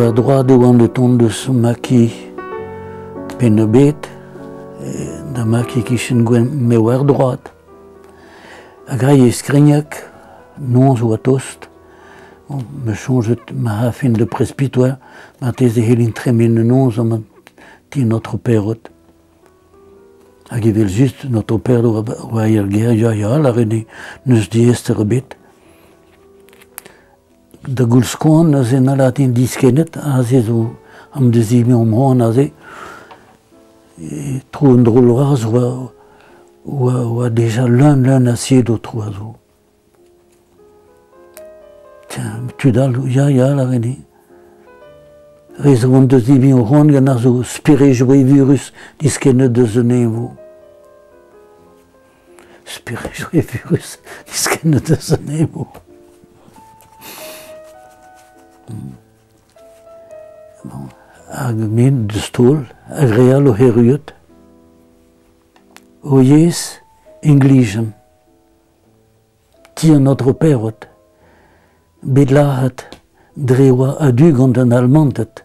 war droad e oan o tont eus Maki Penn-Ebed, da Maki kichen gwenn, me war droad. Hag aze e skrignag, noz oa tost, bon, me soñjet ma afen de prespit oa, marteze e c'hellin tremen an noz ha ma ti notre perrot. Hag evel-just un otoperour war ar gêriañ ya, lâret eo, n'eus diaester ebet. Da goulz-koan aze na latin diskennet, aze zo am dezegañ am c'hoant aze. E tro un drol vras oa, oa, oa deja leun, leun a sied o tro a zo. tud all, ya, ya, lâret Re zo an deus hini o c'hoant gant ar zo sperejoù evurus diskennet deus un eñvoù. Sperejoù evurus diskennet deus un eñvoù. Bon, hag min deus taol, hag re all o c'herruet. O yezh, English. Ti an Aotrou Perrot, bet lazhet dre oa a-du gant an Almanted.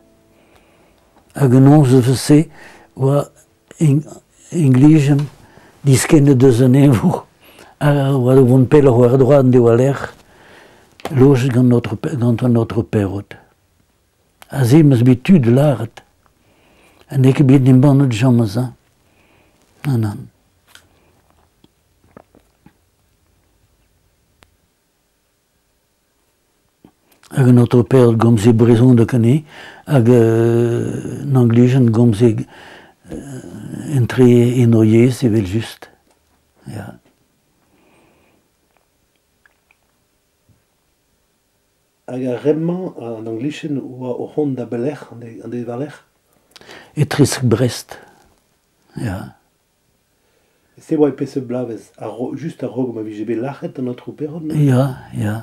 Hag an nozvezh-se oa implijet diskennet eus an eñvour a oa da vont pelloc'h war-dro en devoa lec'h lojet gant, notre, gant an Aotrou Perrot. Aze m'eus bet tud lâret ha n'eo ket bet embannet james hein. Non, non. Hag un auto paered gomz e brezhoneg anezhe, hag un anglijenn gomze entre en o yezh evel-just, ya. Hag ar re-mañ, an anglijenn 'oa o c'hont da belec'h, an de- an de war-lerc'h? E Tresk-Brest, ya. Se oa e peseurt bloavezh, just a-raok ma vije bet lâret an aotrou Perron Ya, ya,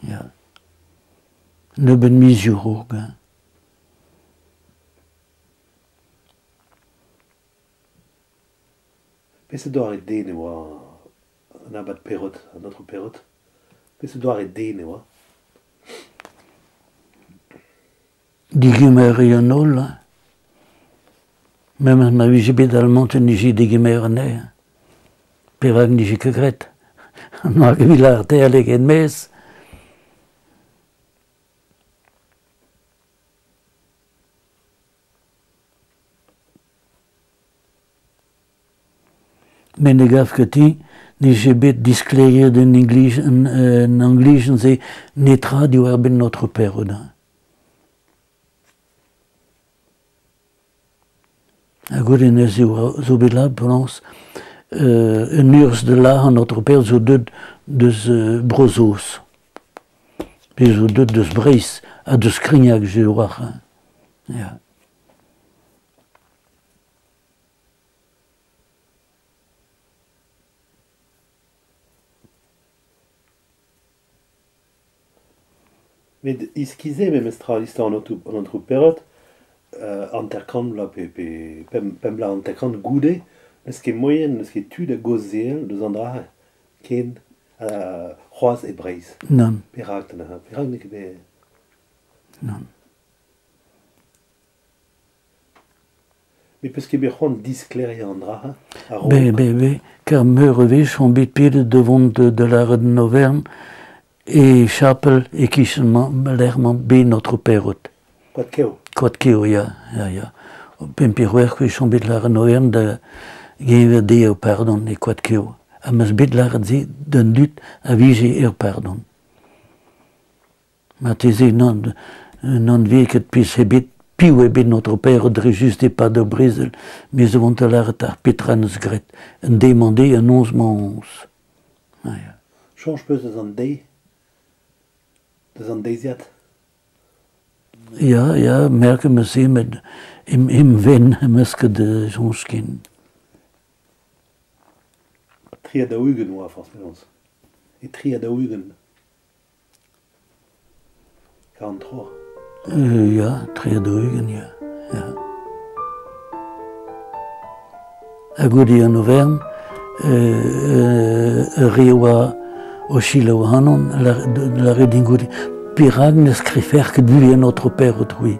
ya. Nebeut mizioù 'raok. Peseurt doare den e oa an abad Perrot, an aotrou Perrot Peseurt doare den e oa Digemeri an holl. Memes ma vije bet al mont en nije degemer anezhañ. Perak nije ket graet? Hag evit lârter ket mes. met ne gav ket ti nije bet diskleriet en inglij en anglijenn-se netra diwar-benn notre père-odin. Ha goude neuze zo bet la blañs euh, un urzh de la an notre père zo deut deus euh, Bro-Saoz. Bez zo deut deus Breizh ha deus Krignac, je war. Ja. Met iskis-se memestra istor an aotrou an aotrou Perrot, hanter-kant vloaz pe pe pemp pemp bloaz hanter-kant goude, n'eus ket moaien, n'eus ket tu da gaozeal deus an dra-se ken c'hoazh e Breizh. Nann. Perak da neuze? Perak n'eo ket bet... Nann. Ne peus ket bet c'hoant disklêriañ an dra-se a-raok Be, be, be. Ker meur a wech on bet pedet da vont da, da lâret en Aovern e chapel e-kichen ma, lec'h ma bet notre perrot. Koadkev. Koadkev, ya, ya, ya. Pemp pe c'hwec'h wech on bet lâret en Aovern da geñver dezhe ur pardon e Koadkev. Ha 'm eus bet lâret se d'an dud a vije er pardon. Marteze n'an vez ket pezh ebet, piv eo bet notre père dre just e-pad ur brezel, me zo on da lâret ar petra en deus graet, un deiz-mañ dezhe, un noz-mañs. Soñj peus eus an deiz Deus an deiziad Ya, ya, merk em eus met em venn em eus ket soñj ken. Tri ha daou-ugent oa forzh penaos. E tri ha daou-ugent. Kantro. Ja, tri-ha-dri-ugent, ja. ja. Ha goude an Auvergne, euh, ur re oa o selaou ac'hanon, lâret din goude, perak ne skriver ket buhez notre père autrefois.